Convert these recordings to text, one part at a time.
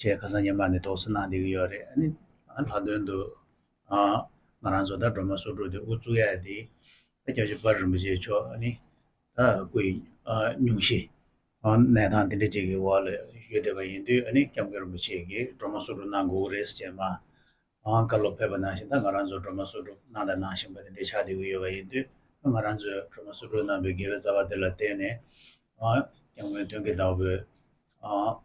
ཁྱེད་ཁ་སང་ཉི་མ་ནས་དོགས་ཟོན་གནང་བསྡད་ཀྱི་ཡོད་རེད་ཨ་ནི། ལྷག་དོན་དུ། ང་རང་ཚོ་ད་སྒྲོལ་མ་བསོད་ཕྲུག་དེ་དབུ་བཙུགས་ཡས་དེ། ཨ་ཀྱཱ་ཆོས་འབར་རིན་པོ་ཆེ་མཆོག་ཨ་ནི། ད་སྐུ་ཡི། སྙུང་གཞི། གནས་སྟངས་དེ་འདྲ་ཅིག་གི་འོག་ལ་ཡོད་བསྡད་པ་ཡིན་དུས་ཨ་ནི་སྐྱབས་མགོན་རིན་པོ་ཆེ་གིས་སྒྲོལ་མ་བསོད་ཕྲུག་གནང་དགོས་ཀྱི་རེད་ཟེར་བྱས་མ། བཀའ་སློབ་ཕེབས་པ་ནང་བཞིན་ད་ང་རང་ཚོ་སྒྲོལ་མ་བསོད་ཕྲུག་གནང་དང་གནང་བཞིན་པ་དེ་འདྲ་ཆགས་བསྡད་ཀྱི་ཡོད་པ་ཡིན་དུས་ད་ང་རང་ཚོས་སྒྲོལ་མ་བསོད་ཕྲུག་གནང་བའི་དགེ་བའི་རྩ་བ་དེ་ལ་བརྟེན་ནས། སྐྱབས་མགོན་དོན་གྱི་བདག་པོས།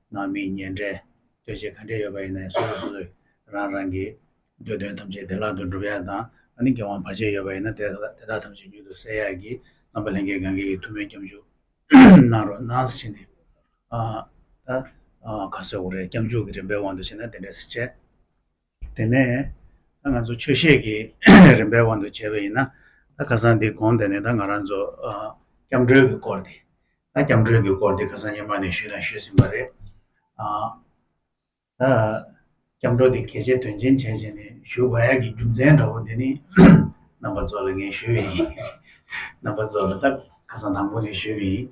ནང་མི་ཉེ་འབྲེལ་ལྟོས་བཅས་ག་འདྲས་ཡོད་པ་ཡིན་ན་ཡང་སོ་སོ་སོ་སོས་རང་རང་གི་འདོད་དོན་ཐམས་ཅད་བདེ་བླག་ཏུ་འགྲུབ་ཡག་དང་ཨ་ནི་འགན་དབང་བར་ཆད་ཡོད་པ་ཡིན་ན་དེ་དག་ཐམས་ཅད་མྱུར་དུ་སེལ་ཡག་གི་རྣམ་པ་ལྷན་སྐྱེས་གངྒཱའི་ཡི་ཐུབ་མོས་སྐྱབས་འཇུག་གནང་རོགས་གནང་ཟེར་བྱས་ནས་ཨ། ད། ཁ་སོས་འོ་རེད་སྐྱབས་འཇུག་གི་རིམ་པའི་དབང་དུ་བྱས་ན་དེ་འདྲའི་སེ་བྱས། དེ་ནས་ད་ང་ཚོ་ཆོས་བཤད་ཀྱི་རིམ་པའི་དབང་དུ་བྱས་པ་ཡིན་ན་ད་ཁ་སང་འདི་གོང་དེ་ནས་ད་ང་རང་ཚོ་སྐྱབས་འགྲོའི་གི་སྐོར་དེ་ད་སྐྱབས་འགྲོའི་གི་སྐོར་དེ་ཁ་སང་ཉེ་མ་ནས་ཞུས་དང་ཞུས་ཟིན་པ་རེད། ད་སྐྱབས་འགྲོ་དེ་གལ་ཆེ་དོན་ཆེན་བྱས་བྱས་ནས་ཞུ་བ་ཡག་གི་རྒྱུ་མཚན་འདྲ་བོ་དེ་ནི་རྣམ་པ་ཚོ་ལ་ངས་ཞུས་པ་ཡིན། རྣམ་པ་ཚོ་ལ་ད་ཁ་སང་དང་པོ་ནས་ཞུས་པ་ཡིན།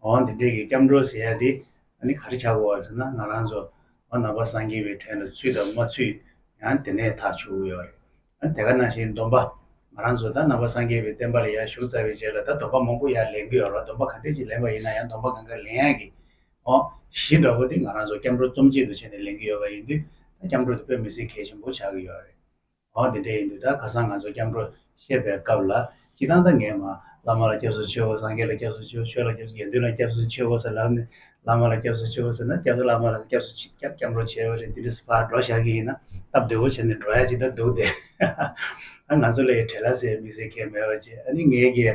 འོ་འདི་འདྲའི་གི་སྐྱབས་འགྲོ་ཟེར་ཡ་དེ་ཨ་ནི་ག་རེ་བྱ་དགོས་བ་ཟེར་ན་ང་རང་ཚོ་འོ་ན་པ་སངས་རྒྱས་པའི་ཐད་ན་ཚུད་དང་མ་ཚུད་ཡང་དེ་ནས་ཐག་ཆོད་གི་ཡོད་རེད་ཨ་དེ་ག་ནང་བཞིན་སྡོམ་པ་ང་རང་ཚོ་ད་ན་པ་སངས་རྒྱས་པའི་བསྟན་པ་ལ་ཡར་ཞུགས་ཚར་བའི་རྗེས་ལ་ད་སྡོམ་པ་མང་པོ་ཡར་ལེན་གི་ཡོད་རོགས་སྡོམ་པ་ག་འདྲའི་ཅིག་ལེན་པ་ཡིན་ན་ཡང་སྡོམ་པ་གང་ག་ལེན་ཡག་གི་འོ་གཞི་འདྲ་པོ་དེ་ང་རང་ཚོ་སྐྱབས་འགྲོ་རྩོམ་ཆེད་དུ་བྱས་ནས་ལེན་གི་ཡོད་པ་ཡིན་དུས་ད་སྐྱབས་འགྲོ་དེ་དཔེ་མི་སྲིད་གལ་ཆེན་པོ་ཆགས་གི་ཡོད་རེད་འོ་དེ་འདྲ་ཡིན་དུས་ད་ག་སང་ང་ཚོ་སྐྱབས་འགྲོ་བཤད་པའི་སྐབས་ལ་ཅི་ལྟང་ད་ངས་མ་བླ་མ་ལ་སྐྱབས་སུ་མཆི་འོ་སངས་རྒྱས་ལ་སྐྱབས་སུ་མཆི་འོ་ཆོས་ལ་སྐྱབས་སུ་དགེ་འདུན་ལ་སྐྱབས་སུ་མཆི་འོ་ཟེར་ལབ་ནས་བླ་མ་ལ་སྐྱབས་སུ་མཆི་འོ་ཟེར་ན་སྐྱབས་སུ་བླ་མ་ལ་སྐྱབས་སུ་མཆི་སྐྱབས་སྐྱབས་འགྲོ་བྱས་པ་རེད་འདི་འདྲ་ཕར་འགྲོ་བཞག་གི་ཡིན་ན་སྟབས་བདེ་བོ་བྱས་ནས་འགྲོ་ཡ་ཇི་ལྟར་འདུག་དེ། ང་ཚོ་ལ་ཡི་བྲལ་ལ་ཟེར་མི་ཟེར་མཁན་མེད་པ་ཅི་ཨ་ནི་ངའི་དགེ།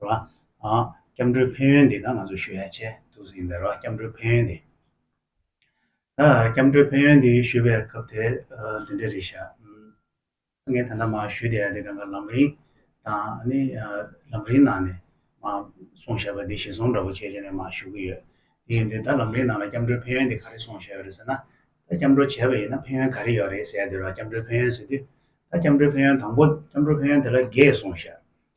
སྐྱབས་འགྲོའི་ཕན་ཡོན་འདི་དག་ང་ཚོས་ཞུ་ཡ་བྱས་འདུག་ཟིན་པའི་རོགས་སྐྱབས་འགྲོའི་ཕན་ཡོན་འདི། སྐྱབས་འགྲོའི་ཕན་ཡོན་འདི་ཞུ་བའི་སྐབས་དེ་འདི་འདྲ་རེད་ཤག། ངས་ད་ལྟ་མ་ཞུས་བསྡད་ཡ་དེ་ག་ག་ལམ་རིང་དང་ལམ་རིང་ནང་ནས་མ་སོང་ཤག་པ་འདི་ཞིག་སོང་འདྲ་པོ་བྱས་བྱས་ནས་མ་ཞུ་གི་ཡོད། དེ་ཡིན་དུས་ད་ལམ་རིང་ནང་ལ་སྐྱབས་འགྲོའི་ཕན་ཡོན་འདི་ག་རེ་སོང་ཤག་ཡོད་རེད་ཟེར་ན། ད་སྐྱབས་འགྲོ་བྱས་པ་ཡིན་ན་ཕན་ཡོན་ག་རེ་ཡོད་རེད་ཟེར་ཡ་དེ་རོགས་སྐྱབས་འགྲོའི་ཕན་ཡོན་ཟེར་དུས། ད་སྐྱབས་འགྲོའི་ཕན་ཡོན་དང་པོ་སྐྱབས་འགྲོ་ཕན་ཡོན་དེ་ལ་རྒས་སོང་ཤག།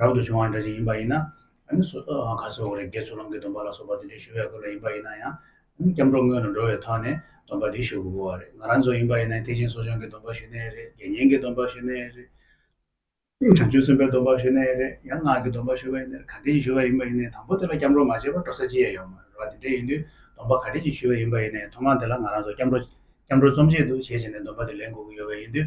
རབ་ཏུ་བྱུང་བ་འདྲ་ཞིག་ཡིན་པ་ཡིན་ན། ནི་སོ་ཐར་བའང་ཁ་སོ་བ་རེ་དགེ་ཚུལ་ལམ་གྱི་སྡོམ་པ་ལ་སོགས་པ་དེ་འདྲའི་ཞུ་བའི་སྐོར་ལ་ཡིན་པ་ཡིན་ན་ཡང། ནི་སྐྱབས་འགྲོ་སྔོན་ལ་འགྲོ་བའི་ཐོག་ནས་སྡོམ་པ་དེ་ཞུ་དགོས་པ་རེད། ང་རང་ཚོ་ཡིན་པ་ཡིན་ན་ཐེག་ཆེན་གསོ་སྦྱོང་གི་སྡོམ་པ་ཞུ་ནའི་རེད། དགེ་བསྙེན་གྱི་སྡོམ་པ་ཞུ་ནའི་རེད། བྱང་ཆུབ་སེམས་དཔའི་སྡོམ་པ་ཞུ་ནའི་རེད་ཡང་སྔགས་ཀྱི་སྡོམ་པ་ཞུ་བའི་ནི་ག་འདྲས་ཀྱི་ཞུ་བ་ཡིན་པ་ཡིན་ནའི་དང་པོ་དེ་ལ་སྐྱབས་འགྲོ་མ་བྱས་པར་འགྲོ་ས་ཅི་ཡང་ཡོད་མ་རེད་བ། དེ་འདྲས་ཡིན་དུས་སྡོམ་པ་ག་འདྲས་ཀྱི་ཞུ་བའི་ཡིན་པ་ཡིན་ནའི་ཐོག་མར་དེ་ལ་ང་རང་ཚོ་སྐྱབས་འགྲོ། སྐྱབས་འགྲོ་རྩོམ་བྱེད་དུ་བྱས་བྱས་ནས་སྡོམ་པ་དེ་ལེན་དགོས་ཀྱི་ཡོད་པས་ཡིན་དུས་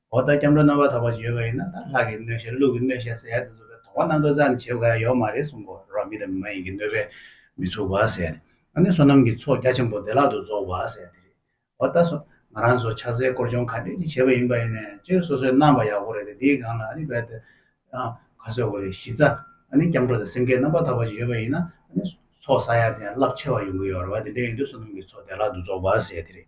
འོ་ད་སྐྱབས་འགྲོ་རྣམ་པར་དག་པ་བརྗོད་པ་ཡིན་ན་ད་ལྷ་གི་གནོད་བཤགས་ཀླུ་གི་གནོད་བཤགས་ཟེར་ཡག་དེ་ཚོ་དོགས་པ་སྣ་ཚོགས་ཙམ་བྱེད་དགའ་ཡོག་མ་རེད་གསུངས་པོ་རོགས་མི་དང་མི་མ་ཡིན་གྱི་གནོད་པས་མི་ཚུགས་པ་ཟེར། ཨ་ནི་བསོད་ནམས་ཀྱི་ཚོགས་རྒྱ་ཆེན་པོ་བདེ་བླག་ཏུ་རྫོགས་པ་ཟེར་དེ་རེད། འོ་ད་སོ། ང་རང་ཚོ་ཕྱག་འཚལ་བསྐོར་སྦྱོང་ག་འདྲས་ཅིག་བྱེད་པ་ཡིན་པ་ཡིན་ནས་སྤྱིར་སོ་སོའི་རྣམ་པ་ཡག་པོ་རེད་དེ་དེའི་སྒང་ལ་ཨ་ནི་བལ་ཏེ། ཁ་གསོས་དགོས་རེད་གཞི་རྩ། ཨ་ནི་སྐྱབས་འགྲོ་དང་སེམས་བསྐྱེད་རྣམ་པར་དག་པ་བརྗོད་པ་ཡིན་ན་ཨ་ནི། ཚོགས་བསགས་ཡག་དེ་ཡང་རླབས་ཆེ་བ་ཡོང་གི་ཡོད་རེད་བ་དེ་འདྲས་ཡིན་དུས་བསོད་ནམས་ཀྱི་ཚོགས་བདེ་བླག་ཏུ་རྫོགས་པ་ཟེར་དེ་རེད།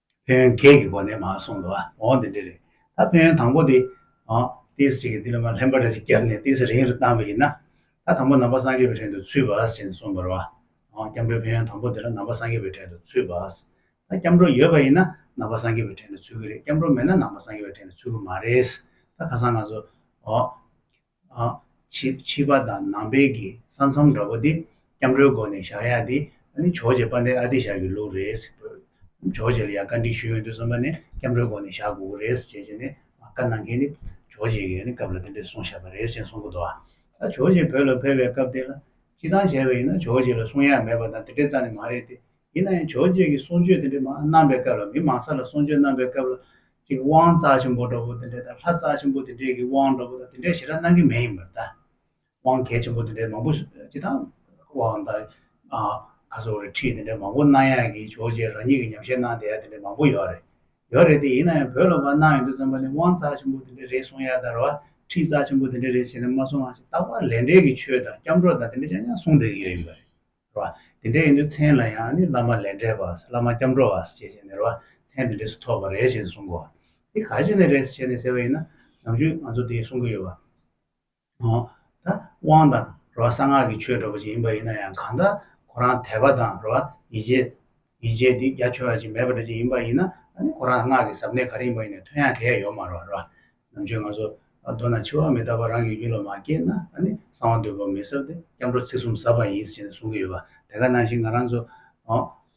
ཕན་ཡོན་བརྒྱད་ཀྱི་སྒོ་ནས་མ་གསུངས་ལ། འོ་འདི་འདྲ་རེད། ད་ཕན་ཡོན་དང་པོ་དེ། ཏི་སེ་གཅིག་གིས་ཏི་ལ་མ་ལྷན་པ་འདྲ་ཞིག་བརྒྱབ་ནས་ཏི་སེ་རིང་རུ་བཏང་བ་ཡིན་ན། ད་དང་པོ་ནང་པ་སངས་རྒྱས་པའི་བྲན་དུ་ཚུད་པ་ཞེས་གསུངས་པར། སྐྱབས་འགྲོའི་ཕན་ཡོན་དང་པོ་དེ་ལ་ནང་པ་སངས་རྒྱས་པའི་བྲན་དུ་ཚུད་པ། ད་སྐྱབས་འགྲོ་ཡོད་པ་ཡིན་ན་ནང་པ་སངས་རྒྱས་པའི་བྲན་དུ་ཚུད་ཀྱི་རེད་སྐྱབས་འགྲོ་མེད་ན་ནང་པ་སངས་རྒྱས་པའི་བྲན་དུ་ཚུད་ཀྱི་མ་རེད། ད་ཁ་སང་ང་ཚོ། བྱིས་པ་དང་ནང་པའི་གི་ས་མཚམས་འདྲ་པོ་དེ་སྐྱབས་འགྲོའི་སྒོ་ནས་བཞག་ཡག་དེ་ཇོ་ཇེ་པ་འདི་ཨ་ཏི་ཞག་གི་ལུགས་རེད། ཇོ་ཇེ་ལ་ཡང་བཀའ་འདྲི་ཞུས་ཡོང་དུས་རྩོམ་པ་ནས་སྐྱབས་འགྲོའི་སྒོ་ནས་བཞག་དགོས་ཀྱི་རེད་ཟེར་བྱས་ནས་བཀའ་གནང་མཁན་ནི་ཇོ་ཇེ་ཡིན་ནི་སྐབས་ལ་དེ་འདྲས་གསུངས་བཞག་པ་རེད་ཅེས་གསུངས་གི་འདུག་ཨ། ད་ཇོ་ཇེ་བོད་ལ་ཕེབས་པའི་སྐབས་དེ་ལ་སྤྱི་བཏང་བྱས་པ་ཡིན་ན་ཇོ་ཇེ་ལ་གསུང་ཡག་མེད་པ་དང་དེ་འདྲས་རྩ་ནས་མ་རེད་དེ་ཡིན་ན་ཡང་ཇོ་བཅས་ཀྱི་གསུང་ཆོས་དེ་འདྲའི་མང་གནང་པའི་སྐབས་ལ་མི་མང་ས་ལ་གསུང་ཆོས་གནང་པའི་སྐབས་ལ་ཅིག་དབང་རྩ་ཆེན་པོ་འདྲ་བོ་དེ་འདྲས་དང་ལྷ་རྩ་ཆེན་པོ་དེ་འདྲས་ཀྱི་དབང་འདྲ་བོ་དང་དེ་འདྲས་ཞེ་དྲག་གནང་གི་མེད་ཡིན་པར་གདའ། དབང་གལ་ཆེན་པོ་དེ་འདྲས་མང་པོ་སྤྱི་དང། དབང་དང། ཁ་སོ་རེ་ཁྲིད་དེ་འདྲས་མང་པོ་གནང་ཡག་གི་ཇོ་བཅས་རང་ཉིད་ཀྱི་ཉམས་བཞེས་གནང་བསྡད་ཡག་དེ་འདྲས་མང་པོ་ཡོད་རེད། ཡོད་རེད་དེ་ཡིན་ན་ཡང་བོད་ལ་བ་གནང་ཡོད་དུས་བརྩམས་པ་ནི་དབང་རྩ་ཆེན་པོ་དེ་འདྲས་རེད་གསུང་ཡག་དར་བ་ཁྲིད་རྩ་ཆེན་པོ་དེ་འདྲས་རེད་ཟེར་ནས་མ་གསུང་ཡང་ཅིག་རྟག་པར་ལས་འབྲས་ཀྱི་ཆོས་དང་སྐྱབས་འགྲོ་དང་དེ་འདྲས་ཅང་ཅང་གསུང་བསྡད་ཀྱི་ཡོད་ཡིན་པ་རེད། བ། དེ་འདྲའི་ཡིན་དུས་མཚན་ལ་ཡང་ནི་བླ་མ་ལས་འབྲས་བ་བླ་མ་སྐྱབས་འགྲོ་བ་ཞེས་བྱས་ནས་རེ་བ་མཚན་དེ་འདྲས་སུ་ཐོབ་པར་རེ་ཞེས་གསུངས་གོ། འདི་ག་ཅི་ནས་རེད་ཞེས་ནས་ཟེར་བ་ཡིན་ན་ནམ་རྒྱུན་ང་ཚོ་དེ་གསུང་གི་ཡོད་པ། ཧོ། ད་དབང་དང་རེ་བ་གསང་སྔགས་ཀྱི་ཆོས་སྒྲོག་པ་ཅིག་ཡིན་པ་ཡིན་ན་ཡང་གང་ལྟར་ཁོ་རང་དད་པ་དང་རེ་བ་ཡིད་ཆེས་ཉེས་ཆད་འདི་རྒྱ་ཆོད་ཅིག་མེད་པ་འདྲ་ཅིག་ཡིན་པ་ཡིན་ན་ཁོ་རང་སྔགས་ཀྱི་ཟབ་གནད་ག་རེ་ཡིན་པ་ཡིན་ནའི་དོན་ཡང་ག་ཡ་ཡོད་མ་རོགས་ར། ནམ་ཆོས་ང་ཚོ་མདོར་ན་འཆི་བ་མི་རྟག་པ་རང་གི་རྒྱུད་ལ་མ་སྐྱེས་ན་གསང་བ་འདོད་པ་མི་ཟབ་སྟེ་སྐྱབས་འགྲོ་ཚིག་གསུམ་ཟབ་པ་ཡིན་ཞེས་གསུང་གི་ཡོད་པ་དེ་ག་ནང་བཞིན་ང་རང་ཚོ་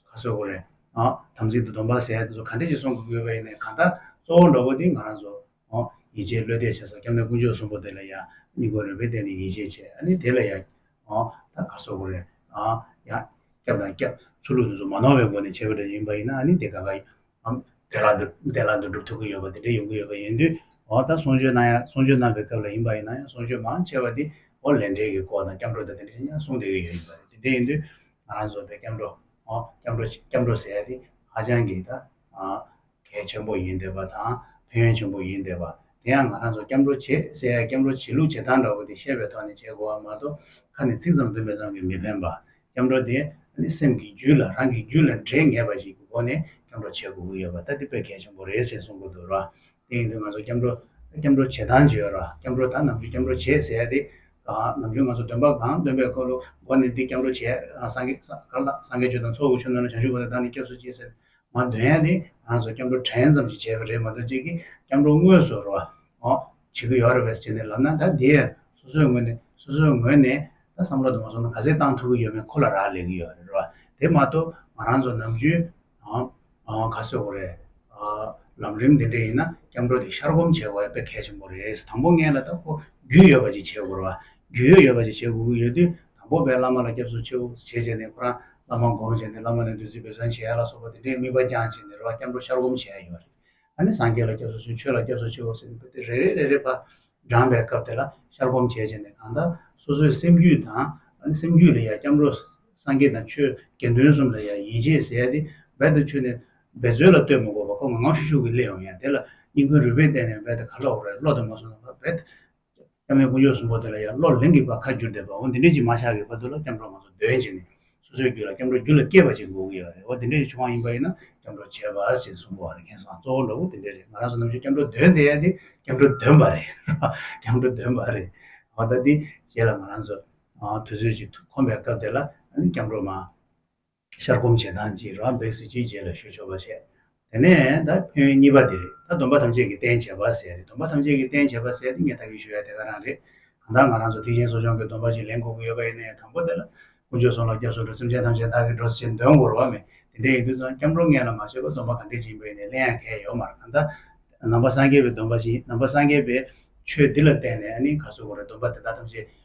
ཁ་སོས་གོ་རེ། དམ་ཚིག་ཏུ་སྡོམ་པ་ཟས་ག་འདྲ་ཞིག་གསུང་དགོས་ཀྱི་ཡོད་པ་ཡིན་ནའི་གང་ལྟར་གཙོ་བོ་འགྲོ་པོ་འདི་ང་རང་ཚོ་ཡིད་ཆེས་བློས་གཏད་བྱས་སོ་སྐྱབས་གནས་དཀོན་མཆོག་གསུམ་པོ་དེ་ལ་ཡང་གཉིས་གོ་རེ་བས་བལྟས་ནས་ཡིད་ཆེས་བྱས་ཨ་ནི་དེ་ལ་ཡང། ད་ག་སོག་པོ་རེད། ཡང། སྐྱབས་དང་སྐྱབས། ཚུར་ལུགས་དེ་ཚོ་མ་ནོར་བའི་སྒོ་ནས་བྱས་པ་རེ་ཡིན་པ་ཡིན་ན་ཨ་ནི་དེ་ག་ག། དེ་ལ་འདུ་དེ་ལ་འདུ་འགྲུབ་ཐུབ་ཀྱི་ཡོད་པ་དེ་འདྲ་ཡོང་གི་ཡོད་པ་ཡིན་དུས། ད་གསུང་ཆོས་གནང་ཡ་གསུང་ཆོས་གནང་བའི་སྐབས་ལ་ཡིན་པ་ཡིན་ན་ཡང་གསུང་ཆོས་མང་ཆེ་བ་དེ། ལས་འབྲེལ་གྱི་སྐོར་དང་སྐྱབས་འགྲོ་དང་དེ་འདྲ་ཅན་ཡང་གསུང་བསྡད་ཀྱི་ཡོད་ཡིན་པ་རེད་དེ་འདྲ་ཡིན་དུས། ང་རང་ཚོ་བས་སྐྱབས་འགྲོ། སྐྱབས་འགྲོ་སྐྱབས་འགྲོ་ཟེར་ཡ་དེ་ཧ་ཅང་གི་ད། གལ་ཆེན་པོ་ཡིན་འདོད་པ་དང་ཕན་ཡོན་ཆེན་པོ་ཡིན་འདོད་པ། དེ་ཡང་ང་རང་ཚོ་སྐྱབས་འགྲོ་བྱེད་སའི་སྐྱབས་འགྲོ་བྱེད་ལུགས་བྱེད་སྟངས་འདྲ་བོ་དེ་ཤེས་པའི་ཐོག་ནས་བྱེད་དགོས་པ་མ་གཏོགས་ཁ་ནས་ཚིག་ཙམ་འདོན་པས་ཙམ་གྱིས་མི་ཕན་པ། སྐྱབས་འགྲོ་དེ་ནི་སེམས་ཀྱི་རྒྱུད་ལ་རང་གི་རྒྱུད་ལ་འདྲེས་ངེས་པ་ཞིག་གི་སྒོ་ནས་སྐྱབས་འགྲོ་བྱེད་དགོས་ཀྱི་ཡོད་པ་ལྟ་དེ་དཔེ་གལ་ཆེན་པོ་རེད་ཟེར་གསུངས་ཀྱི་འདུག་ར། དེ་ཡིན་དུས་ང་ཚོ་སྐྱབས་འགྲོ། སྐྱབས་འགྲོ་བྱེད་སྟངས་བརྗོད་ར། སྐྱབས་འགྲོ་དང་ནམ་རྒྱུན་སྐྱབས་འགྲོ་བྱེད་ཟེར་དེ། ནམ་རྒྱུན་ང་ཚོ་འདོན་པ་གང་སྟོན་པའི་སྐོར་ལོ་སྒོ་ནས་འདི་སྐྱབས་འགྲོ་བྱེད། སངས་རྒྱས་སྤྱོད་དང་ཚོགས་ཀྱི་ཆོས་སྣོད་ལ་བྱང་ཆུབ་སྒོ་ནས་བདག་ནི་སྐྱབས་སུ་མཆི་ཟེར། ང་འདོན་ཡ་ནི་ང་ཚོ་སྐྱབས་འགྲོ་དྲན་ཙམ་ཞིག་བྱས་པ་རེད་མ་གཏོགས་ཅིག་གིས་སྐྱབས་འགྲོ་དངོས་སུ་རོ་འོ་བྱེད་ཀྱི་ཡོད་རེད་བས་ཅེས་ནས་ལབ་ན་ད་དེ་སོ་སོའི་ངོས་ནས་སོ་སོའི་ངོས་ནས་ད་བསམ་བློ་དུ་མ་སོང་ན་ག་ཚད་བཏང་ཐུབ་ཀྱི་ཡོད་མེད་ཁོ་ལ་རག་ལས་ཀྱི་ཡོད་རེད་རོ་དེ་མ་གཏོགས་ང་རང་ཚོ་ནམ་རྒྱུན་ག་ཚོད་གོ་རེད་ལམ་རིམ་འདི་འདྲས་ཡིན་ན་སྐྱབས་འགྲོ་དེ་ཤར་སྒོམ་བྱེད་དགོས་པས་གལ་ཆེན་པོ་རེད་དང་པོ་ངེད་ལ་ད་ཁོ་རྒྱུས་ཡོད་པ་ཅིག་བྱེད་དགོས་རེད་བ་རྒྱུས་ཡོད་ཡོད་པ་ཅིག་བྱེད་དགོས་ཀྱི་ཡོད་དུས་དང་པོ་པའི་བླ་མ་ལ་སྐྱབས་སུ་མཆི། བྱས་བྱས་ནས་ཁོ་རང་བླ་མ་བསྒོམ་བྱས་ནས་བླ་མ་ནས་བདུད་རྩི་འབུལ་བཟང་བྱས་ལ་སོགས་པ་དེ་འདྲའི་དམིགས་པ་རྐྱང་བྱས་ནས་རེ་བ་སྐྱབས་འགྲོ་ཤར་བསྒོམ་བྱས་ཡོད་རེད། ཨ་ནི་སངས་རྒྱས་ལ་སྐྱབས་སུ་མཆི་ཆོས་ལ་སྐྱབས་སུ་མཆི་འོ་སེམས་དེ་རེ་རེ་རེ་རེ་བར་བགྲངས་པའི་སྐབས་དེ་ལ་ཤར་བསྒོམ་བྱས་བྱས་ནས་གང་དག་སོ་སོའི་སེམས་རྒྱུད་དང། ཨ་ནི་སེམས་རྒྱུད་ལ་ཡང་སྐྱབས་འགྲོ་སངས་རྒྱས་དང་ཆོས་དགེ་འདུན་གསུམ་ལ་ཡང་ཡིད་ཆེས་ཟད་དེ་འབད་དུ་ཆུད་ནས་འབད་རྩོལ་ལ་ལྟོས་མི་དགོས་པར་ཁོ་ངང་ངང་ཤུགས་ཤུགས་ཀྱིས་སླེབས་འོང་ཡང་དེ་ལ་སྙིང་ཁུང་རུས་པས་བརྟེན་ནས་འབད་དེ་ག་ལ་འོག་རེ་བློ་དང་མ་བསྲུངས་ན་འབད་དེ་སྐྱབས་མེད་ཀུན་སྤྱོད་གསུམ་པོ་དེ་ལ་ཡང་བློ་ལིང་གིས་པ་ཁ་བསྒྱུར་བསྡད་པ་འོ་འདི་འདྲའི་ཅིག་མ་ཆགས་གི་བར་དུ་ལ་སྐྱབས་འགྲོ་ང་ཚོ་འདོན་བྱེད་ནི་སོ་སོའི་རྒྱུད་ལ་སྐྱབས་འགྲོ་རྒྱུད་ལ་སྐྱེས་པ་ཅིག་འགོག་གི་ཡོད་རེད་འོ་འདི་འདྲའི་ཅིག་ཆུང་བ་ཡིན་པ་ཡིན་ན་སྐྱབས་འགྲོ་བྱེད་པ་ཞེས་གསུངས་པ་བ་རེད་མཁན་སང་གཙོ་བོ་ལ་བུ་དེ་འདྲས་རེད་ང་རང་ཚོ་ནམ་ཞིག་སྐྱབས་འགྲོ་འདོན་བསྡད་ཡ་འདི་སྐྱབས་འགྲོ་འདོན་པ་རེད་སྐྱབས་འགྲོ་འདོན་པ་རེད་འོ་ད་འདི་བྱེད་ལ་ང་རང་ཚོ་དུས་ཚོད་ཅིག་ཐུག་ཁོམ་པའི་སྐབས་དེ་ལ་ཨ་ནི་སྐྱབས་འགྲོ་མ། ཤར་སྒོམ་བྱེད་སྟངས་གཅིག་རང་འབད་ཟིལ་གྱིས་རྗེས་ལ་ཞུ་ཆོག་པ་བྱས། དེ་ནས་ད་ཕན་ཡོན་གཉིས་པ་འདི་རེད་ད་སྡོམ་པ་ཐམས་ཅད་ཀྱི་རྟེན་བྱེད་པ་ཟེར་ཏེ་སྡོམ་པ་ཐམས་ཅད་ཀྱི་རྟེན་བྱེད་པ་ཟེར་ཏེ་ངས་ད་གིན་ཞུ་ཡ་དེ་ག་རང་རེད། གང་ལྟར་ང་རང་ཚོ་ཐེག་ཆེན་གསོ་སྦྱོང་གི་སྡོམ་པ་ཅིག་ལེན་དགོས་ཀྱི་ཡོད་པ་ཡིན་ནའི་དང་པོ་དེ་ལ། དཀོན་མཆོག་གསུང་ལ་སྐྱབས་སུ་འགྲོ་སེམས་ཅན་ཐམས་ཅད་བདག་གིས་འགྲོ་ཟེར་འདོན་གོ་རུ་བ་མེད་དེ་འདྲའི་ཡིན་དུས་ཙང་སྐྱབས་འགྲོ་ངན་ལ་མ་བྱེད་པར་སྡོམ་པ་ག་འདྲའི་སྦྱིན་པ་ཡིན་ནའི་གླེང་ཡ་མཁས་ཡོད་མར་གང་ལྟར། ནང་པ་སངས་རྒྱས་པའི་སྡོམ་པ་སྦྱིན་ནང་པ་སངས་རྒྱས་པའི་ཆོས་འདི་ལ་བརྟེན་ནས་ནི་ག་སོ་གོ་རེ་སྡོམ་པ་དེ་དག་ཐམས་ཅད་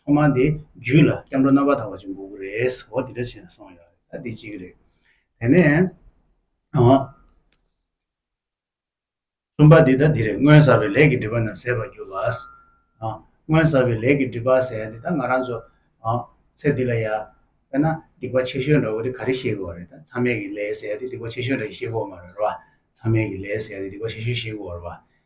ཐོག་མར་དེ་རྒྱུད་ལ་སྐྱབས་འགྲོ་རྣམ་པར་དག་པ་ཅིག་འགུགས་རེད་ཨོ་དེ་འདྲ་བྱས་ནས་སོང་ཡོད་རེད་ད་དེ་གཅིག་རེད། དེ་ནས་གསུམ་པ་དེ་ད་དེ་རེད་སྔོན་བསགས་པའི་ལས་ཀྱི་སྒྲིབ་པ་རྣམས་ཟད་པར་གྱུར་པ། སྔོན་བསགས་པའི་ལས་ཀྱི་སྒྲིབ་པ་ཟད་དེ་ད་ང་རང་ཚོ་ཚེ་འདི་ལ་ཡ་དཔེར་ན་སྡིག་པ་ཆེ་ཤོས་འདྲ་བོ་དེ་ག་རེ་ཤེས་དགོས་རེད་ད་མཚམས་མེད་ཀྱི་ལས་ཟད་དེ་སྡིག་པ་ཆེ་ཤོས་འདྲ་ཤེས་དགོས་མ་རེད་རོ། མཚམས་མེད་ཀྱི་ལས་ཟད་དེ་སྡིག་པ་ཆེ་ཤོས་ཤེས་དགོས་རེད་པ།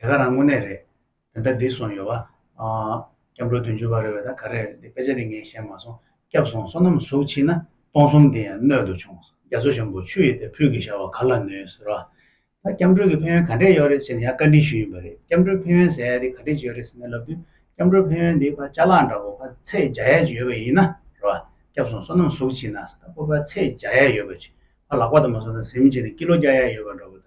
དེ་ག་རང་དངོས་གནས་རེད། དེ་ལྟར་བསྡིགས་སོང་ཡོད་བ། སྐྱབས་འགྲོ་བདུན་ཅུ་བ་རེད་བས་ད་ག་རེད་དཔེ་ཆ་འདི་ངས་ཤེས་མ་སོང་སྐྱབས་སོང་བསོད་ནམས་གཟུགས་ཕྱིན་ན་སྟོང་གསུམ་འདི་ཡང་སྣོད་དུ་ཆུང་རྒྱ་མཚོ་ཆེན་པོ་ཆུ་ཡི་སྟེ་ཕུད་ཀྱི་བྱ་བ་ག་ལ་ནུས་ཟེར་བ། ད་སྐྱབས་འགྲོ་གི་ཕན་ཡོན་ག་འདྲས་ཡོད་རེད་ཟེར་ནས་ཡང་བཀའ་དྲིན་ཞུས་ཡིན་པ་རེད་སྐྱབས་འགྲོའི་ཕན་ཡོན་ཟེར་ཡ་དེ་ག་འདྲས་ཡོད་རེད་ཟེར་ནས་ལབ་དུས་སྐྱབས་འགྲོའི་ཕན་ཡོན་འདི་ཕ་ལྕགས་ལག་འདྲ་བོ་ཕ་ཚད་བརྒྱ་ཡས་ཀྱི་ཡོད་བས་ཡིན་ན་རེད་བ། སྐྱབས་སོང་བསོད་ནམས་གཟུགས་ཕྱིན་ན་ཟེར་ད་ཕོ་ཕ་ཚད་བརྒྱ་ཡས་ཡོད་བས་ཕ་ལག་པ་དང་མ་སོང་ད་གཟིམ་བྱས་ནས་ཀི་ལོ་བརྒྱ་ཡས་ཡོད་བ་འདྲ་བོ་ད།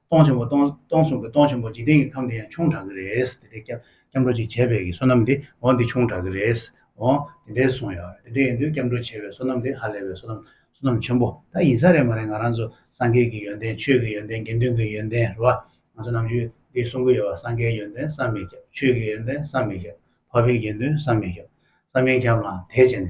སྟོང་ཆེན་པོ་སྟོང་གསུང་གི་སྟོང་ཆེན་པོ་འཇིག་རྟེན་གྱི་ཁམས་དེ་ཡང་ཆུང་དྲགས་ཀྱི་རེད། དེ་འདྲའི་སྐྱབས་འགྲོ་ཅིག་བྱས་པས་ཀྱི་བསོད་ནམས་དེ་འོ་འདི་ཆུང་དྲགས་ཀྱི་རེད། འོ། དེ་འདྲའི་གསུང་ཡོད་རེད། དེ་འདྲའི་ཡིན་དུས་སྐྱབས་འགྲོ་བྱས་པའི་བསོད་ནམས་དེ་ཧ་ལས་པའི་བསོད་ནམས་བསོད་ནམས་ཆེན་པོ་ད་ཡིན་ས་རེད་མ་རེད་ང་རང་ཚོ་སངས་རྒྱས་ཀྱི་ཡོན་ཏན་ཆོས་ཀྱི་ཡོན་ཏན་དགེ་འདུན་གྱི་ཡོན་ཏན་རེད་བ། ང་ཚོ་ནམ་རྒྱུན་འདི་གསུང་གི་ཡོད་བ་སངས་རྒྱས་ཡོན་ཏན་བསམ་མི་ཁྱབ་ཆོས་ཀྱི་ཡོན་ཏན་བསམ་མི་ཁྱབ་ཕ་བི་དགེ་འདུན་བསམ་མི་ཁྱབ་བསམ་མི་ཁྱབ་ལ་དེ་བྱས་ནས་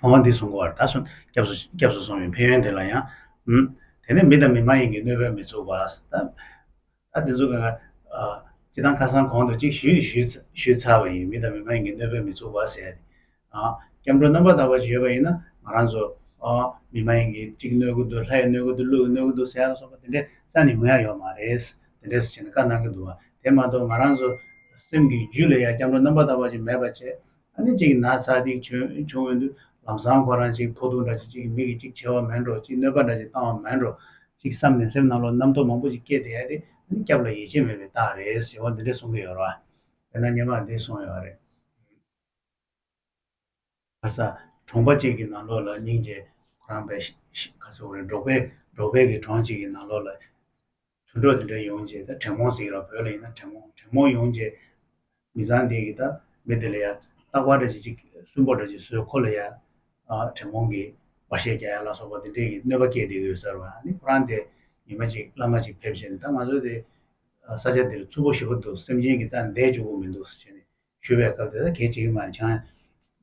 ཁོང་བ་འདི་བཟུང་གོ་བར་ད་སོ་སྐྱབས་སུ་སོང་བའི་ཕན་ཡོན་དེ་ལ་ཡང། དེ་ནས་མི་དང་མི་མ་ཡིན་གྱི་གནོད་པས་མི་ཚུགས་པ། ད་དེ་ཚོ་གང། ཅི་དང་ཁ་སང་གོང་དུ་གཅིག་ཞུས་ཚར་བ་ཡིན་མི་དང་མི་མ་ཡིན་གྱི་གནོད་པས་མི་ཚུགས་པ་ཟེར་ཡ་དེ། སྐྱབས་འགྲོ་རྣམ་པར་དག་པ་ཞིག་ཡོད་པ་ཡིན་ན་ང་རང་ཚོ། མི་མ་ཡིན་གྱི་གཅིག་གནོད་གི་འདུག་ལྷ་ཡི་གནོད་གི་འདུག་ཀླུ་ཡི་གནོད་གི་འདུག་ཟེར་ཡ་སོགས་པ་དེ་འདྲའི་ས་ནས་ངུ་ཡ་ཡོད་མ་རེད། དེ་འདྲས་སུ་བྱས་ནས་བཀའ་གནང་གི་འདུག་བ། དེ་མ་གཏོགས་ང་རང་ཚོ། སེམས་ཀྱི་རྒྱུད་ལ་ཡང་སྐྱབས་འགྲོ་རྣམ་པར་དག་པ་ཞིག་མེད་པ་བཅས། ཨ་ནི་གཅིག་གི་ན་ཚ་གཅིག་བྱུང་འོན་དུ་ལམ་སང་ཁོ་རང་གཅིག་ཕོ་ཐུག་འདྲ་བྱེད་གཅིག་མིག་གིས་གཅིག་བྱེད་བ་མེད་འགྲོ་གཅིག་གནོད་པ་འདྲ་བྱེད་བཏང་བ་མེད་འགྲོ་གཅིག་བསམ་ནས་སེམས་ནང་ལོག་རྣམ་རྟོག་མང་པོ་ཅིག་སྐྱེས་བསྡད་ཡ་རེད་ཨ་ནི་སྐྱབས་ལ་ཡིད་ཆེས་མེད་པའི་རྟགས་རེད་ཞེས་བ་འདི་འདྲས་གསུང་གི་ཡོད་རེད་བ། དཔེར་ན་སྙེ་མར་འདི་གསུང་ཡོད་རེད། ཁ་ས་གྲོང་པ་གཅིག་གི་ནང་ལོག་ལ་སྙིང་རྗེ་ཁོ་རང་པས་ཁ་ཟུག་རེད་འབྲོག་པས་འབྲོག་པས་ཀྱི་གྲོང་གཅིག་གི་ནང་ལོག་ལ། དུད་འགྲོ་དེ་འདྲ་ཡོང་རྗེས་ད་དྲེད་མོང་ཟེར་གི་ར་བོད་ལ་ཡིན་ན་དྲེད་མོང་དྲེད་མོང་ཡོང་རྗེས། མི་ཚང་དེ་གི་ད་མི་དེ་ལ་ཡ། སྟག་པ་འདྲ་བྱེད་ཅིག་སུན་པོ་འདྲ་བྱེད་བཟོས་ཁོ་ལ་ཡ། དྲེད་མོང་གིས་བ་ཤད་རྒྱག་ཡ་ལ་སོགས་པ་དེ་འདྲས་ཀྱི་གནོད་པ་བསྐྱལ་བསྡད་ཡོད་ཟེར་བ་ནི་ཁོ་རང་དེ་ཉི་མ་གཅིག་བླ་མ་ཅིག་ཕེབས་རྗེས་ནས་ད་ང་ཚོ་དེ། ས་ཆ་འདིར་ཚུར་པོ་ཞི་བོ་འདུག་སེམས་ཅན་གྱི་རྩ་འདེད་བཅུག་པོ་མི་འདུག་ཟེར་བྱས་ནས་ཞུས་པའི་སྐབས་དེ་ད་གལ་ཆེ་གི་མ་རེད་ཁྱེད་རང།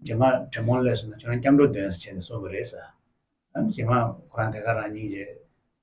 རྗེས་མར་དྲེད་མོང་སླེབས་སོང་ན་ཁྱེད་རང་སྐྱབས་འགྲོ་འདོན་ཟེར་བྱས་ནས་གསུངས་པ་རེད། རྗེས་མར་ཁོ་རང་དེ་གར་རང་སྙིང་རྗེ།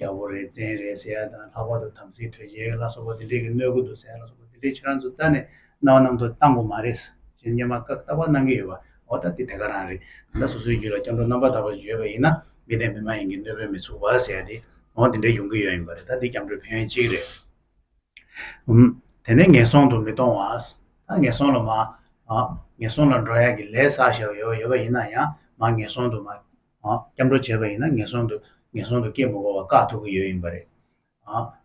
རྒྱལ་པོ་རེ་བཙན་རེ་ཟེར་ཡ་དང་ལྷག་པར་དུ་དམ་སྲི་དོལ་རྒྱལ་ལ་སོགས་པ་འདི་འདྲས་ཀྱི་གནོད་དགོས་འདུག་ཟེར་ཡ་ལ་སོགས་པ་འདི་འདྲས་ཁྱེད་རང་ཚོ་རྩ་ནས་རྣ་བ་ནང་དུ་བཏང་དགོས་མ་རེད། ཅེས་སྙན་པ་ཀག་ཏག་པ་གནང་གི་ཡོད་པ་འོ་ད་དེ་དེ་ག་རང་རེད་གང་ལྟར་སོ་སོའི་རྒྱུད་ལ་སྐྱབས་འགྲོ་རྣམ་པར་དག་པ་བརྗོད་པ་ཡིན་ན་མི་བདེན་མི་མ་ཡིན་གྱི་གནོད་པོའི་མི་ཚུགས་པ་ཟེར་ཡ་དེ་འོ་འདི་འདྲས་ཡོང་གི་ཡོད་ཡིན་པ་རེད་ད་འདི་སྐྱབས་འགྲོའི་ཕན་ཡོན་གཅིག་རེད་འམ། དེ་ནས་ངན་སོང་དུ་མི་གཏོང་བ། ད་ངན་སོང་ལ་མ། ངན་སོང་ལ་འགྲོ་ཡ་གི་ལས་བསགས་བཞག་ཡོད་པ་ཡོད་པ་ཡིན་ན་ཡང་མ་ངན་སོང་དུ་མ། སྐྱབས་འགྲོ་བྱས་པ་ཡིན་ན་ངན་སོང་དུ་ངན་སོང་དུ་སྐྱེ་མི་དགོས་པར་བཀག་ཐུབ་ཀྱི་ཡོད་ཡིན་པ་རེད།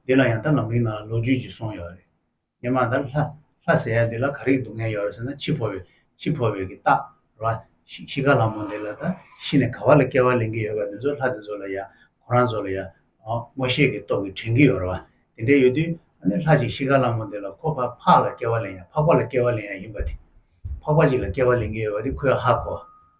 འདི་ལ་ཡང་ད་ལམ་རིང་ནང་ལ་ལོ་རྒྱུས་ཅིག་སོང་ཡོད་རེད། སྙེ་མ་དང་ལྷ། ལྷ་ཟེར་ཡ་འདི་ལ་ག་རེའི་སྡུག་བསྔལ་ཡོད་རེད་ཟེར་ན་འཆི་འཕོ་བའི། འཆི་འཕོ་བའི་གི་རྟགས་རེད་བ། ཤི་ཁ་ལ་མོ་འདི་ལ་ད་ཤི་ནས་ག་བ་ལ་སྐྱེ་བ་ལེན་གི་ཡོད་པ་འདི་ཚོ་ལྷ་འདི་ཚོ་ལ་ཡ། ཁོ་རང་ཚོ་ལ་ཡ། མོ་ཤེས་ཀྱི་སྟོབས་ཀྱིས་དྲན་གྱི་ཡོད་རེད་བ། དེ་འདྲས་ཡོད་དུས། ཨ་ནི་ལྷ་ཅིག་ཤི་ཁ་ལ་མོ་འདི་ལ་ཁོ་ཕ་ཕག་ལ་སྐྱེ་བ་ལེན་ཡ་ཕག་པ་ལ་སྐྱེ་བ་ལེན་ཡ་ཡིན་པ་དེ། ཕག་པ་ཅིག་ལ་སྐྱེ་བ་ལེན་གྱི་ཡོད་པ་དེ་ཁོའི་ཨ་ཧ་གོ།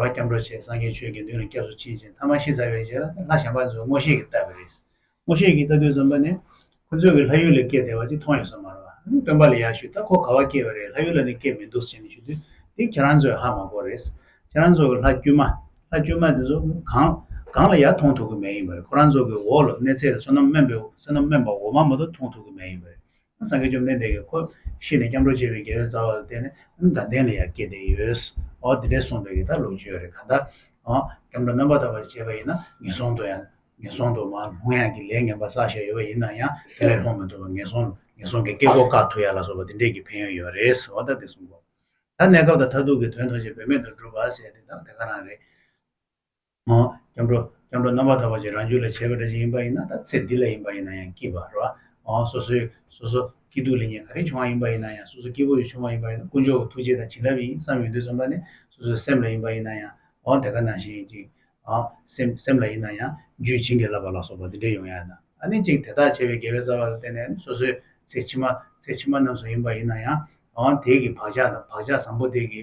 རོ་སྐྱབས་འགྲོ་བྱེད་སངས་རྒྱས་ཆོས་དགེ་འདུན་ལ་སྐྱབས་སུ་མཆི་ཞེས་མཐའ་མ་ཤི་ཟ་བའི་རྗེས་ལ་ལྷ་བྱམས་པ་ཚོས་སྔོ་ཤེས་ཀྱིས་བཏབ་པ་རེད། སྔོ་ཤེས་ཀྱིས་བཏབ་དུས་བཙོན་པ་ནས་ཁོ་ཚོས་ཀྱི་ལྷ་ཡུལ་ལ་སྐྱེལ་བདེ་བ་ཅིག་མཐོང་ཡོད་ས་མ་རེད། སྟོན་པ་ལ་ཡར་ཞུས་ད་ཁོ་ག་བ་སྐྱེལ་བ་རེད་ལྷ་ཡུལ་ལ་ནི་སྐྱེལ་མི་འདུག་ཟེར་ནས་ཞུས་དུས་འདི་ཁྱེད་རང་ཚོའི་ཧ་མ་གོ་རེད། ཁྱེད་རང་ཚོ་གི་ལྷ་དཀྱུས་མ་ལྷ་དཀྱུས་མ་དེ་ཚོ་གང་གང་ལ་ཡར་མཐོང་ཐུབ་ཀྱི་མེད་ཡིན་པ་རེད་ཁོ་རང་ཚོ་གི་འོག་ལ་གནས་ཚད་ལ་བསོད་ནམས་དམན་པའི་བསོད་ནམས་དམན་པ་འོག་མ་མ་གཏོགས་མཐོང་ཐུབ་ཀྱི་མེད་ཡིན་པ་རེད། སངས་རྒྱས་བཅོམ་ལྡན་འདས་ཀྱིས་ཁོ་ཤི་ནས་སྐྱབས་འགྲོ་བྱེད་པའི་དགེ་བའི་རྩ་བ་ལ་བརྟེན་ནས་ནི་དགའ་ལྡན་ལ་ཡང་སྐྱེ་བདེ་ཡོད། འོ་དེ་འདྲའི་གསུངས་པའི་གི་དག་ལུགས་བརྗོད་རེ་ག་དག། འོ། སྐྱབས་འགྲོ་རྣམ་པར་དག་པར་བྱེད་པ་ཡིན་ན་ངན་སོང་དུ་ཡང། ངན་སོང་དུ་མ་ལྷུང་ཡང་གི་ལས་ངན་པ་བསགས་བཞག་ཡོད་པ་ཡིན་ན་ཡང་དེ་ལས་ལྷུང་མི་ཐུབ་པར་ངན་སོང། ངན་སོང་གི་སྐྱེ་སྒོ་བཀག་ཐུབ་ཡ་ལ་སོགས་པ་འདི་འདྲས་ཀྱི་ཕན་ཡོན་ཡོད་རེད། འོ་ད་དེ་གསུངས་གོ། ད་གནས་སྐབས་དང་མཐར་ཐུག་གི་དོན་མཐོང་ཆེན་བེད་མེད་དུ་བསྒྲུབ་པ་ཟེར་དེ་དག་དེ་ག་རང་རེད། ངོ། སྐྱབས་འགྲོ། སྐྱབས་འགྲོ་རྣམ་པར་དག་པ་ཅིག་རང་རྒྱུད་ལ་བྱེད་པའི་སྒྲ་ཅིག་ཡིན་པ་ཡིན་ན་དང་ཚེ་འདི་ལ་ཡིན་པ་ཡིན་ན་ཡང་སྐྱིད་པར་རོ། ཨོ། སོ་སོའི། སོ་སོ། སྐྱིད་སྡུག་ལས་ཉེས་ག་རེ་བྱུང་བ་ཡིན་པ་ཡིན་ན་ཡང་སོ་སོ་སྐྱིད་པོ་ཡི་བྱུང་བ་ཡིན་པ་ཡིན་ན་དཀོན་མཆོག་གི་ཐུགས་རྗེ་དང་བྱིན་རླབས་ཡིན་བསམ་ཡོད་དུས་རྩོམ་པ་ནི་སོ་སོའི་སེམས་ལ་ཡིན་པ་ཡིན་ན་ཡང་ཨོ་དེ་ག་ནང་བཞིན་ཡིན་ཅིག། ཨོ། སེམས་སེམས་ལ་ཡིན་ན་ཡང་རྒྱུད་བྱིན་གྱིས་བརླབས་པ་ལ་སོགས་པ་འདི་འདྲའི་ཡོང་ཡ་ན་ཨ་ནི་ཅིག་དེ་དག་བྱས་པའི་དགེ་བའི་རྩ་བ་ལ་བརྟེན་ནས་ནི་སོ་སོའི་ཚེ་ཕྱི་མ་ཚེ་ཕྱི་མ་རྣམས་སུ་ཡིན་པ་ཡིན་ན་ཡང་ཨོ་དེས་ཀྱི་བག་ཆགས་དང་བག་ཆགས་བཟང་པོ་དེས་ཀྱི་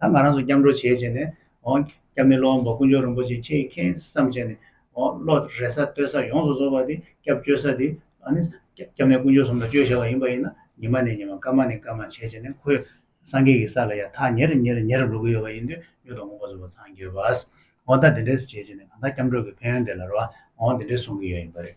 ད་ང་རང་ཚོ་སྐྱབས་འགྲོ་བྱེད་ཅེས་ནས། སྐྱབས་མེད་སློབ་དཔོན་པོ་ཀུན་སྦྱོར་རིན་པོ་ཆེ་ཁྱེད་ཀྱིས་ཁེངས་སམ་བྱས་ནས། བློ་རེ་ས་བསྟོད་ས་ཡོངས་སུ་རྫོགས་པ་འདི་སྐྱབས་བཅོལ་ས་འདི། སྐྱབས་མེད་ཀུན་སྦྱོར་ཟུང་ལ་བཅོལ་བྱ་བ་ཡིན་པ་ཡིན་ན་ཉི་མ་ནས་ཉི་མ་སྐར་མ་ནས་སྐར་མ་བྱེད་ཅེས་ནས་ཁོས་སངས་རྒྱས་ཀྱི་ས་ལ་ཡང་ཐག་ཉེར་ཉེར་ཉེར་འགྲོ་གི་ཡོད་པ་ཡིན་དུས་གཡུ་ཐོག་སྔོན་པོ་བཟོ་བ་ཚང་འགྱོད་པ། ཨོ་ད་དེ་འདྲས་བྱེད་ཅེས་ནས་གང་ལྟར་སྐྱབས་འགྲོ་གི་ཕན་ཡོན་དེ་ལ་རོ། དེ་འདྲས་གསུང་གི་ཡོད་ཡིན་པ་རེད།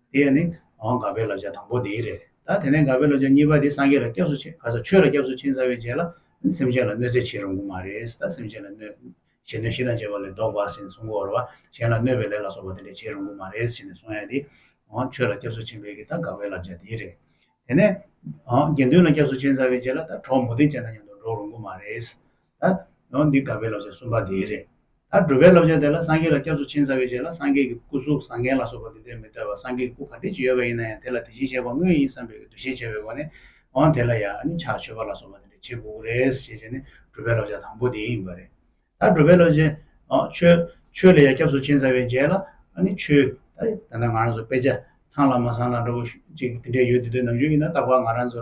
དེ་ཡང་ནི། འོ་འགག་པའི་བསླབ་བྱ་དང་པོ་འདི་རེད། ད་དེ་ནས་འགག་པའི་བསླབ་བྱ་གཉིས་པ་འདི་སངས་རྒྱས་ལ་སྐྱབས་སུ་མཆི། ག་ས་ཆོས་ལ་སྐྱབས་སུ་མཆི་ཚར་བའི་རྗེས་ལ། སེམས་ཅན་ལ་གནོད་འཚེ་བྱེད་རུང་གི་མ་རེད། ད་སེམས་ཅན་ལ་གནོད། གཞན་གནོད་ཤི་དང་བཅས་པ་ལས་བཟློག་པ་ཟིན་གསུང་གོ། གཞན་ལ་གནོད་པའི་ལས་ལ་སོགས་པ་དེ་འདྲ་བྱེད་རུང་གི་མ་རེད་ཅེས་ནས་གསུང་ཡང་ནི། འོ་ཆོས་ལ་སྐྱབས་སུ་མཆི་འབད་ཀྱིས་ད་འགག་པའི་བསླབ་བྱ་འདི་རེད། དེ་ནས། འོ་དགེ་འདུན་ལ་སྐྱབས་སུ་མཆི་ཚར་བའི་རྗེས་ལ་ད་གྲོགས་མུ་སྟེགས་ཅན་དང་མཉམ་དུ་འགྲོགས་རུང་གི་མ་རེད། ད་འདི་དགའ་བའི་བསླབ་བྱ་གསུམ་པ་དེ་རེད། ད་སྒྲུབ་པའི་བསླབ་བྱ་དེ་ལ་སངས་རྒྱས་ལ་སྐྱབས་སུ་ཕྱིན་ཚར་བའི་རྗེས་ལ་སངས་རྒྱས་ཀྱི་སྐུ་གཟུགས་བཟང་ངན་ལ་སོགས་པ་དེ་དོན་མི་ལྟོས་པར་སངས་རྒྱས་ཀྱི་སྐུ་ག་འདྲའི་ཅིག་ཡོད་པ་ཡིན་ན་ཡང་དེ་ལ་དེ་བཞིན་གཤེགས་པ་དངོས་ཡིན་བསམ་པའི་འདུ་ཤེས་བྱས་པའི་སྒོ་ནས་འོང་དེ་ལ་ཡང་ནི་ཕྱག་མཆོད་པ་ལ་སོགས་པ་དེ་འདྲ་བྱེད་དགོས་ཀྱི་རེད་ཟེར་བྱེད་བྱེད་ནི་སྒྲུབ་པའི་བསླབ་བྱ་དང་པོ་དེ་ཡིན་པ་རེད། ད་སྒྲུབ་པའི་བསླབ་བྱའི། ཆོས་ལ་ཡང་སྐྱབས་སུ་ཕྱིན་ཚར་བའི་རྗེས་ལ་ནི་ཆོས། ད་ང་རང་ཚོ་དཔེ་ཆ་ཚང་ལ་མ་ཚང་ལ་འགྲོ་གི་ཅིག་དེ་འདྲས་ཡོད་དེ་དོན་ནམ་རྒྱུན་ཡིན་ན་རྟག་པར་ང་རང་ཚོ་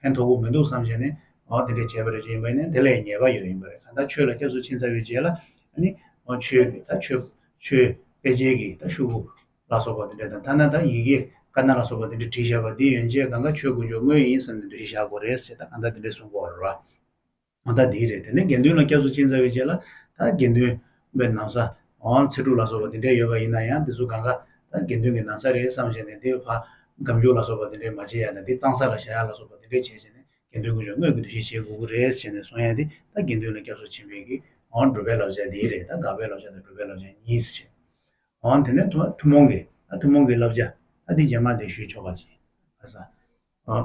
ཕན་མཐོ་པོ་མི་འདུག་བསམ་བཞིན་ནས་འོ་དེ་འདྲས་བྱས་པ་རེད་ཅེས་ཡིན་པ་ནི་དེ་ལས་ཉེས་པ་ཡོད་ཡིན་པ་རེད་གང་ལྟར་ཆོས་ལ་སྐྱབས་སུ་ཕྱིན་ཚར་བའི་རྗེས་ལ་ནི་འོ་ཆོས་ཀྱི་ད་ཆོས་ཆོས་དཔེ་ཆའི་གི་ད་ཤུ་བོ་ལ་སོགས་པ་དེ་འདྲས་དང་ཐ་ན་ད་ཡི་གེ་ཀ་ན་ལ་སོགས་པ་དེ་འདྲས་བྲིས་བཞག་པ་འདི་ཡོན་ཅད་གང་གཱ་ཆོས་དགོན་ཇོ་མོའི་ཡིན་བསམ་ནས་འབྲི་བཞག་གོ་རེད་ཟེར་ད་གང་ལྟར་དེ་འདྲས་གསུངས་དགོས་ར། མ་མཐའ་དེ་རེད་དེ་ནས་དགེ་འདུན་ལ་སྐྱབས་སུ་བཅིང་ཚར་བའི་རྗེས་ལ་ད་དགེ་འདུན་པའི་ནང་ས་འོང་ཚེ་ཕྲུག་ལ་སོགས་པ་དེ་འདྲས་ཡོད་པ་ཡིན་ན་ཡང་དེ་ཚོ་གང་གཱ་ད་དགེ་འདུན་གྱི་ནང་ས་རེད་བསམ་བྱས་ནས་དེ་བར་སྒམ་རྒྱུག་ལ་སོགས་པ་དེ་འདྲས་མ་བྱེད་ཡ་ན་དེ་གཙང་ས་ལ་བཞག་ཡ་ལ་སོགས་པ་དེ་འདྲས་བྱས་བྱས་ནས་དགེ་འདུན་དགོན་ཆུང་དངོས་ཀྱི་འདུ་ཤེས་བྱེད་དགོས་ཀྱི་རེད་ཟེར་ནས་སོང་ཡ་དེ་ད་དགེ་འདུན་ལ་སྐྱབས་སུ་ཕྱིན་པའི་གིས་འོང་སྒྲུབ་པའི་བསླབ་བྱ་དེ་རེད་ད་དགག་པའི་བསླབ་བྱ་དང་སྒྲུབ་པའི་བསླབ་བྱ་གཉིས་སུ་ཕྱེ། འོང་དེ་ནས་ཐུ་ཐུན་མོང་གི་ད་ཐུན་མོང་གི་བསླབ་བྱ་ད་དེ་རྗེས་མར་དེ་ཞུས་ཆོག་པ་བྱེད། ཨ།